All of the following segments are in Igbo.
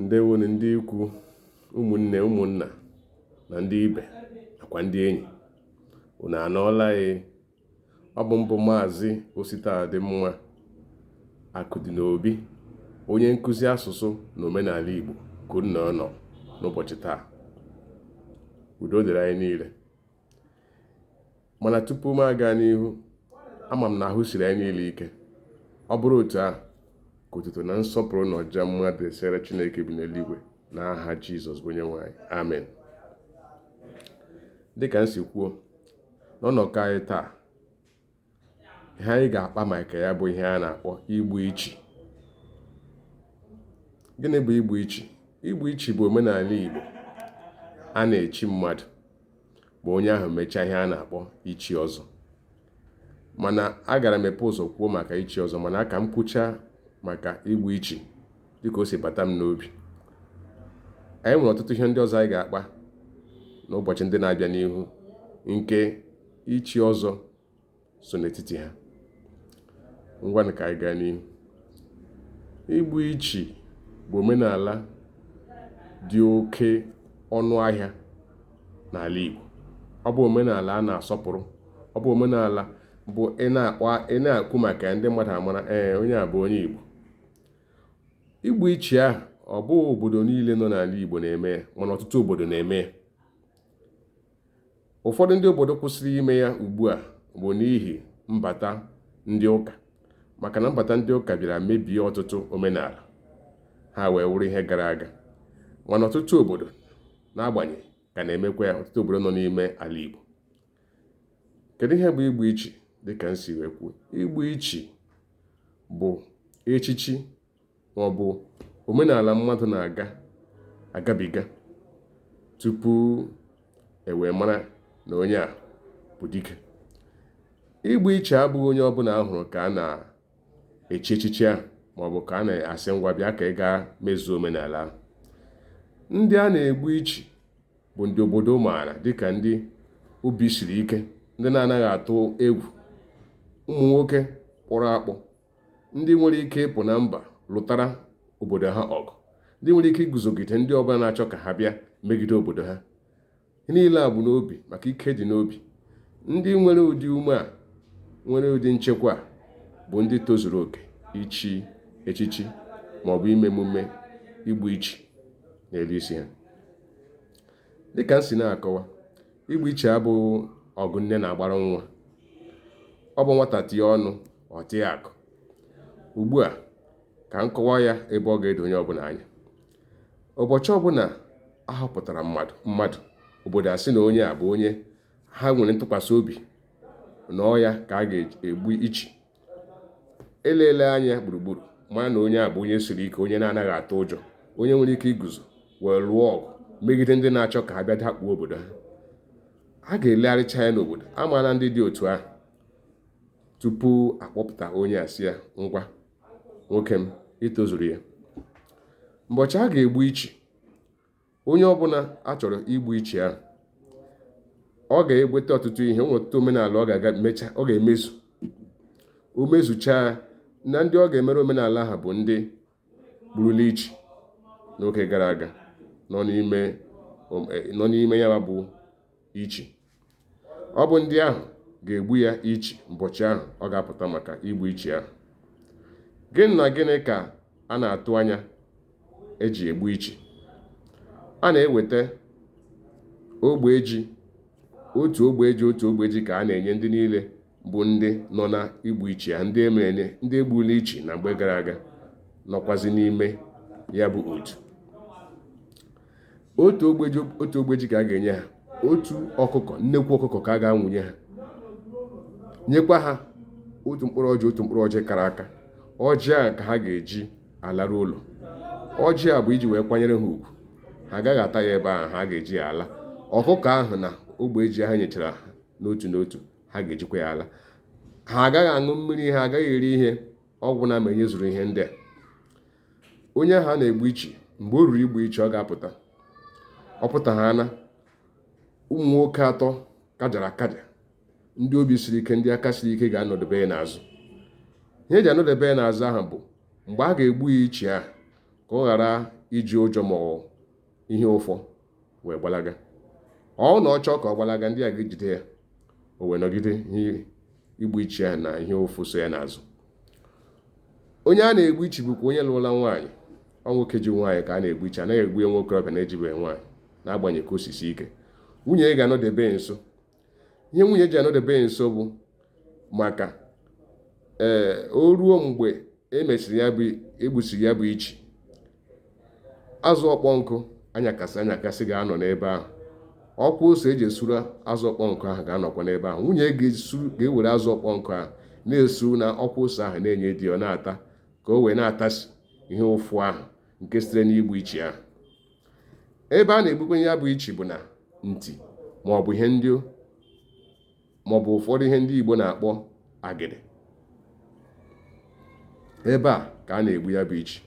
ndewonụ ndị ikwu ụmụnne ụmụnna na ndị ibe nakwa ndị enyi unu anọọla anyị e. ọ bụ m bụ maazị Ositadịmma Akụdịnobi onye nkụzi asụsụ na omenala igbo ka unu nọ n'ụbọchị taa udo dịrị anyị niile mana tupu m aga n'ihu ama m na ahụ siri anyị niile ike ọ bụrụ otu ahụ ka otuto na nsọpụrụ na ọja mma dịsịrị Chineke bi n'eluigwe na aha Jizọs bụ Onyenwe anyị amen dịka m si kwuo n'ọnọkọ anyị taa ihe anyị ga-akpa maka ya bụ ihe a na-akpọ igbu ichi gịnị bụ igbu ichi igbu ichi bụ omenala Igbo a na-echi mmadụ ma onye ahụ mechaa ihe a na-akpọ ichi ọzọ mana agara m ebu ụzọ kwuo maka ichi ọzọ mana ka m kwuchaa maka igbu ichi dịka o si bata m n'obi anyị nwere ọtụtụ ihe ndị ọzọ anyị ga-akpa n'ụbọchị ndị na-abịa n'ihu nke ichi ọzọ so n'etiti ha ngwanụ ka anyị gaa n'ihu igbu ichi bụ omenala dị oke ọnụ ahịa n'ala Igbo ọ bụ omenala a na-asọpụrụ ọ bụ omenala bụ ị na-ekwu maka ndị mmadụ amara ee onye a bụ onye Igbo igbu ichi ahụ ọ bụghị obodo niile nọ n'ala Igbo na-eme ya mana ọtụtụ obodo na-eme ya ụfọdụ ndị obodo kwụsịrị ime ya ugbu a bụ n'ihi mbata ndị ụka maka na mbata ndị ụka bịara mebie ọtụtụ omenala ha wee wụrụ ihe gara aga mana ọtụtụ obodo n'agbanyeghị ka na-emekwa ya ọtụtụ obodo nọ n'ime ala Igbo kedu ihe bụ igbu ichi dịka m si wee kwuo igbu ichi bụ echichi ma ọ bụ omenala mmadụ na-agabiga tupu e wee mara na onye a bụ dike igbu ichi abụghị onye ọbụla a hụrụ ka a na-echi echichi ahụ maọbụ ka a na-asị ngwa bịa ka ị gaa mezuo omenala ahụ ndị a na-egbu ichi bụ ndị obodo maara dịka ndị obi siri ike ndị na-anaghị atụ egwu ụmụ nwoke kpọrọ akpọ ndị nwere ike ịpụ na mba lụtara obodo ha ọgụ ndị nwere ike iguzogide ndị ọbụla na-achọ ka ha bịa megide obodo ha ihe niile a bụ n'obi maka ike dị n'obi ndị nwere ụdị ume a nwere ụdị nchekwa a bụ ndị tozuru oke ichi echichi ma ọ bụ ime emume igbu ichi n'elu isi ha dịka m si na-akọwa igbu ichi abụghị ọgụ nne na-agbara nwa ọ bụ nwata tie ọnụ ọ tịa akụ ugbu a ka m kọwa ya ebe ọ ga-edo onye ọbụla anya ụbọchị ọbụla a họpụtara mmadụ obodo asị na onye a bụ onye ha nwere ntụkwasị obi na ọ ya ka a ga-egbu ichi elele anya gburugburu mara na onye a bụ onye siri ike onye na-anaghị atụ ụjọ onye nwere ike iguzo wee lụọ ọgụ megide ndị na-achọ ka ha bịa dakpuo obodo ha a ga-elegharịcha ya n'obodo a maala ndị dị otu ahụ tupu akpọpụta onye a sị ya ngwa nwoke m itozuru ya mbọchị a ga-egbu ichi onye ọbụla a chọrọ igbu ichi ahụ ọ ga-eweta ọtụtụ ihe o nwere ọtụtụ omenala ọ ga-aga mecha ọ ga-emezu o mezuchaa na ndị ọ ga-emere omenala ahụ bụ ndị gburula ichi n'oge gara aga nọ n'ime ya bụ ichi ọ bụ ndị ahụ ga-egbu ya ichi mbọchị ahụ ọ ga-apụta maka igbu ichi ahụ gịnị na gịnị ka a na-atụ anya eji egbu ichi a na-eweta ogbe ji otu ogbe ji otu ogbe ji ka a na-enye ndị niile bụ ndị nọ na igbu ichi ya ndị emere ndị egbula ichi na mgbe gara aga nọkwazi n'ime ya bụ otu otu ogbe ji otu ogbe ji ka a ga-enye ha otu ọkụkọ nnekwu ọkụkọ ka a ga-anwụnye ha nyekwa ha otu mkpụrụ ọjị otu mkpụrụ ọjị kara aka ọjị a ka ha ga-eji alaru ụlọ ọjị a bụ iji wee kwanyere ha ugwu ha agaghị ata ya ebe ahụ ha ga-eji ya ala ọkụkọ ahụ na ogbe ji ha nyechara ha n'otu n'otu ha ga-ejikwa ya ala ha agaghị aṅụ mmiri ha agaghị eri ihe ọ gwụna ma enyezuru ihe ndị a onye ahụ a na-egbu ichi mgbe o ruru igbu ichi ọ ga-apụta ọ pụta ha na ụmụ nwoke atọ kajara akaja ndị obi siri ike ndị aka siri ike ga-anọdebe ya n'azụ ihe eji anọdebe ya n'azụ ahụ bụ mgbe a ga-egbu ya ichi ahụ ka ọ ghara iji ụjọ ma ọ ihe ụfụ wee gbalaga ọ na ọ chọọ ka ọ gbalaga ndị a ga-ejide ya o wee nọgide igbu ichi ya na ihe ụfụ so ya n'azụ onye a na-egbu ichi bụkwa onye lụrụla nwaanyị ọ nwoke ji nwaanyị ka a na-egbu ichi anaghị egbu ya nwokorobịa na-ejibeghị nwaanyị n'agbanyeghị ka o si sie ike nwunye ya ga-anọdebe nso ihe nwunye ji anọdebe ya nso bụ maka ee o ruo mgbe e mesịrị ya bụ egbusiri ya bụ ichi azụ ọkpọ nkụ anyakasị anyakasị ga-anọ n'ebe ahụ ọkwa ose eji esuru azụ ọkpọ nkụ ahụ ga-anọkwa n'ebe ahụ nwunye ga-ewere azụ ọkpọ nkụ ahụ na-esuru na ọkwa ose ahụ na-enye di ọ na-ata ka o wee na-atasi ihe ụfụ ahụ nke sitere n'igbu ichi ahụ ebe a na-egbukwe ya bụ ichi bụ na nti maọbụ ihe ndị maọbụ ụfọdụ ihe ndị Igbo na-akpọ agịdị ebe a ka a na-egbu ya bụ ichi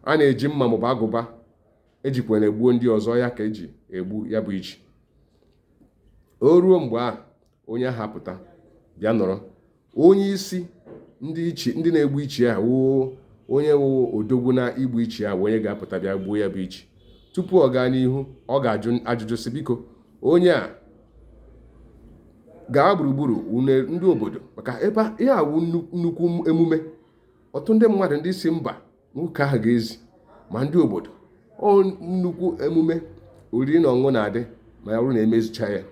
a na-eji mma maọbụ agụba ejikwara gbuo ndị ọzọ ya ka eji egbu ya bụ ichi o ruo mgbe ahụ onye ahụ apụta bịa nọrọ onye isi ndị ichi ndị na-egbu ichi a wụ onye wụ odogwu na igbu ichi a onye ga-apụta bịa gbuo ya bụ ichi tupu ọ gaa n'ihu ọ ga-ajụ ajụjụ sị biko onye a gaa gburugburu ndị obodo maka ebe ihe a wụ nnukwu emume ọtụtụ ndị mmadụ ndị si mba nwoke ahụ ga-ezi ma ndị obodo ọ nnukwu emume oriri na ọṅụṅụ na-adị ma ya bụrụ na emezicha ya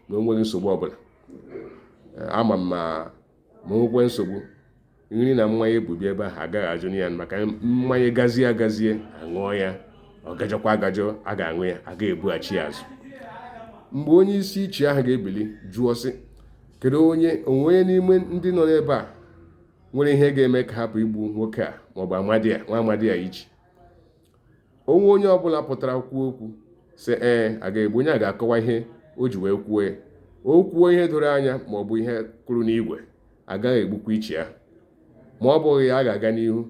na o nweghị nsogbu ọbụla ama m ma ma nwekwe nsogbu nri na mmanya ebubi ebe ahụ agaghị ajụ ya maka mmanya gazie agazie aṅụọ ya ọ gajọkwa agajọ a ga-aṅụ ya a ga-ebughachi ya azụ mgbe onye isi ichi ahụ ga-ebili jụọ sị kedu onye o nwe onye n'ime ndị nọ n'ebe a nwere ihe ga-eme ka hapụ igbu nwoke a maọbụ amadi a nwa amadi a ichi o nwee onye ọbụla pụtara kwuo okwu sị ee a ga-egbu onye a ga-akọwa ihe o ji wee kwuo ya o kwuo ihe doro anya maọbụ ihe kwuru n'igwe agaghị egbukwa ichi a ma ọ bụghị ya a ga-aga n'ihu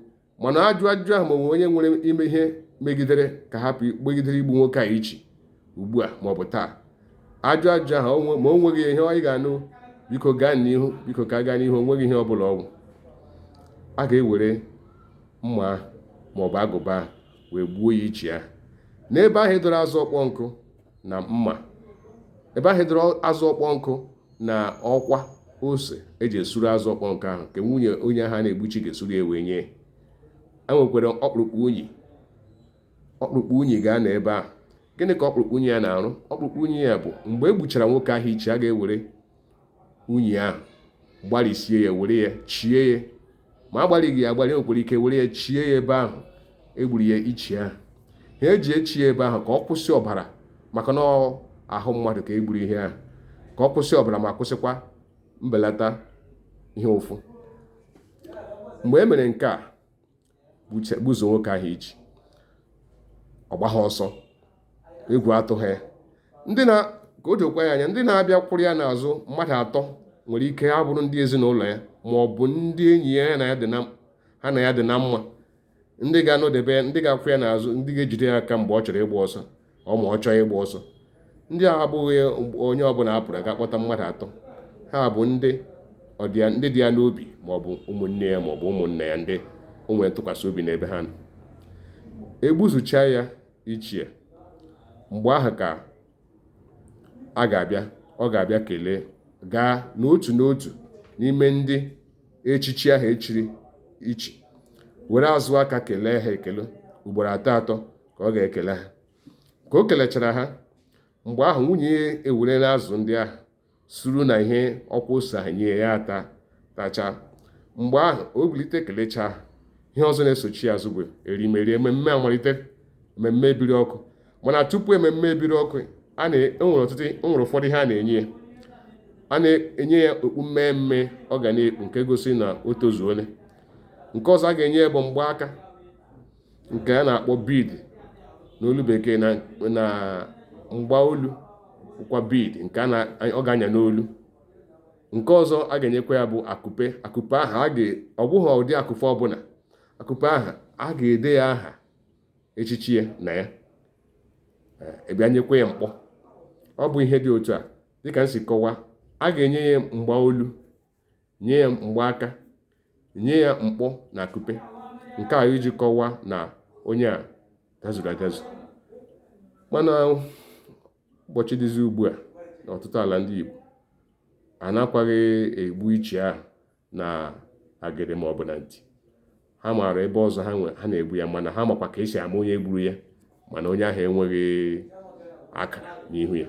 mana ajụọ ajụjụ ahụ ma o nwe onye nwere ime ihe megidere ka hapụ megidere igbu nwoke a ichi ugbu a maọbụ taa ajụọ ajụjụ ahụ ma o nweghị ihe anyị ga-anụ biko gaa n'ihu biko ka gaa n'ihu onweghị ihe ọ bụla ọ wụ a ga-ewere mma maọbụ agụba wee gbuo ya ichi ahụ n'ebe ahụ edoro azụ ọkpọ nkụ na mma ebe ahụ edoro azụ ọkpọ nkụ na ọkwa ose eji esuru azụ ọkpọ nkụ ahụ nke nwunye onye ahụ a na-egbu ichi ga-esuru ya wee nye e nwekwara ọkpụrụkpụ unyi ọkpụrụkpụ unyi ga-anọ ebe ahụ gịnị ka ọkpụrụkpụ unyi a na-arụ ọkpụrụkpụ unyi a bụ mgbe e gbuchara nwoke ahụ ichi a ga-ewere unyi ahụ gbarisie ya were ya chie ya ma agbarighị ya agbari nwekwara ike were ya chie ya ebe ahụ egburu ya ichi ahụ ha eji echi ya ebe ahụ ka ọ kwụsị ọbara maka na ahụ mmadụ ka egburu ihe ahụ ka ọ kwụsị ọbara ma kwụsịkwa mbelata ihe ụfụ mgbe e mere nke a gbuzuo nwoke ahụ ichi ọ gbaghị ọsọ egwu atụghị ya ndị na ka o dokwa ya anya ndị na-abịa kwụrụ ya n'azụ mmadụ atọ nwere ike ha bụrụ ndị ezinụlọ ya ma ọ bụ ndị enyi ya ha na ya dị na mma ndị ga-anọdebe ndị ga-akwụ ya n'azụ ndị ga-ejide ya aka mgbe ọ chọrọ ịgba ọsọ ọ ma ọ chọọ ịgba ọsọ ndị a abụghị onye ọbụla a pụrụ a ga-akpọta mmadụ atọ ha bụ ndị ndị dị ya n'obi ma ọ bụ ụmụnne ya ma ọ bụ ụmụnna ya ndị o nwere ntụkwasị obi n'ebe ha nọ egbuzuchaa ya ichi mgbe ahụ ka a ga-abịa ọ ga-abịa kelee gaa n'otu n'otu n'ime ndị echichi ahụ echiri ichi were azụ aka kelee ha ekele ugboro atọ atọ ka ọ ga-ekele ha ka o kelechara ha mgbe ahụ nwunye ya ewerela azụ ndị ahụ suru na ihe ọkwa ose ahụ nye ya ata tacha mgbe ahụ o bilite kelechaa ihe ọzọ na-esochi ya azụ bụ erimeri ememme amalite ememme ebiri ọkụ mana tupu ememme ebiri ọkụ e nwere ụfọdụ ihe a na-enye ya a na-enye ya okpu mmemme ọ ga na-ekpu nke gosi na o tozuole nke ọzọ a ga-enye ya bụ mgbaaka nke a na-akpọ bead n'olu bekee na na mgba olu kwa bead nke a na ọ ga-anya n'olu nke ọzọ a ga-enyekwa ya bụ akupe akupe ahụ a ga ọ bụghị ụdị akupe ọbụla akupe ahụ a ga-ede ya aha echichi ya na ya a bịa nyekwa ya mkpọ ọ bụ ihe dị otu a dịka m si kọwa a ga-enye ya mgba olu nye ya mgbaaka nye ya mkpọ na akupe nke a iji kọwaa na onye a dazuru adazu mana ụbọchị dịzi ugbu a n'ọtụtụ ala ndị Igbo anakwaghị egbu ichi ahụ na agịrị maọbụ na nti ha maara ebe ọzọ ha nwe ha na-egbu ya mana ha makwa ka esi ama onye gburu ya mana onye ahụ enweghị akara n'ihu ya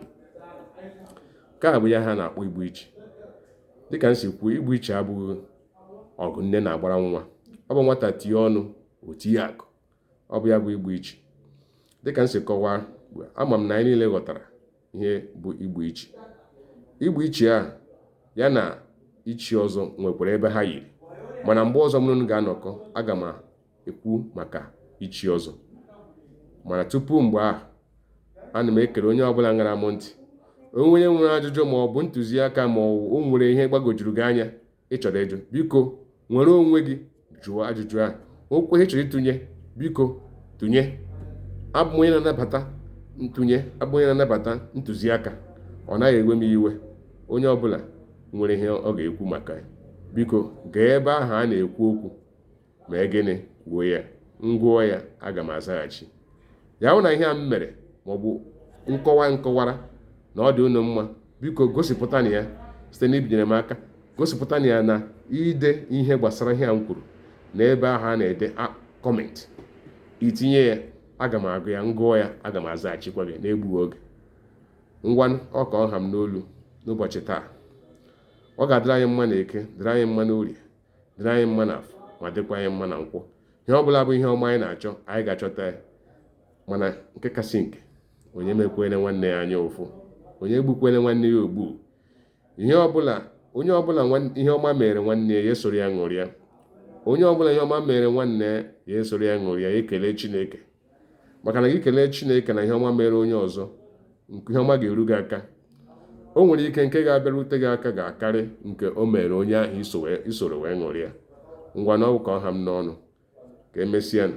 nke a bụ ya ha na-akpọ igbu ichi dịka m si kwuo igbu ichi abụghị ọgụ nne na-agbara nwa ọ bụ nwata tinye ọnụ o tinye akụ ọ bụ ya bụ igbu ichi dịka m si kọwaa ama m na anyị niile ghọtara ihe bụ igbu ichi igbu ichi a ya na ichi ọzọ nwekwara ebe ha yiri mana mgbe ọzọ mụ na unu ga-anọkọ aga m ekwu maka ichi ọzọ mana tupu mgbe ahụ ana m ekele onye ọbụla ṅara m ntị onye nwere ajụjụ ma ọ bụ ntụziaka ma o nwere ihe gbagojuru gị anya ị chọrọ ịjụ biko nwere onwe gị jụọ ajụjụ ahụ ọ bụ ihe ị chọrọ ịtụnye biko tụnye abụ m onye na-anabata ntụnye abụ m onye na-anabata ntụziaka ọ naghị ewe m iwe onye ọbụla nwere ihe ọ ga-ekwu maka ya biko gaa ebe ahụ a na-ekwu okwu mee gịnị kwuo ya m gụọ ya aga m azaghachi ya hụ na ihe a m mere maọbụ nkọwa m kọwara na ọ dị unu mma biko gosipụta na ya site na ibinyere m aka gosipụta na ya na ide ihe gbasara ihe a m kwuru na ebe ahụ a na-ede kọmentị i tinye ya aga m agụ ya m gụọ ya aga m azaghachikwa gị n'egbughị oge ngwanụ ọ ka ọ ha m n'olu n'ụbọchị taa ọ ga-adịrị anyị mma na eke dịrị anyị mma n'orie dịrị anyị mma n'afọ ma dịkwa anyị mma na nkwọ ihe ọ bụla bụ ihe ọma anyị na-achọ anyị ga-achọta ya mana nke kasị nke onye emekwele nwanne ya anya ụfụ onye egbukwele nwanne ya ogbu onye ọbụla ihe ọma mere nwanne ya esoro ya ṅụrịa onye ọbụla ihe ọma mere nwanne ya esoro ya ṅụrịa ekele Chineke maka na gị kelee chineke na ihe ọma mere onye ọzọ nke ihe ọma ga-eru gị aka o nwere ike nke ga-abịarute gị aka ga-akarị nke o mere onye ahụ i soro wee ṅụrịa ngwanụ ọ wụ ka ọ ha m n'ọnụ ka emesịa nụ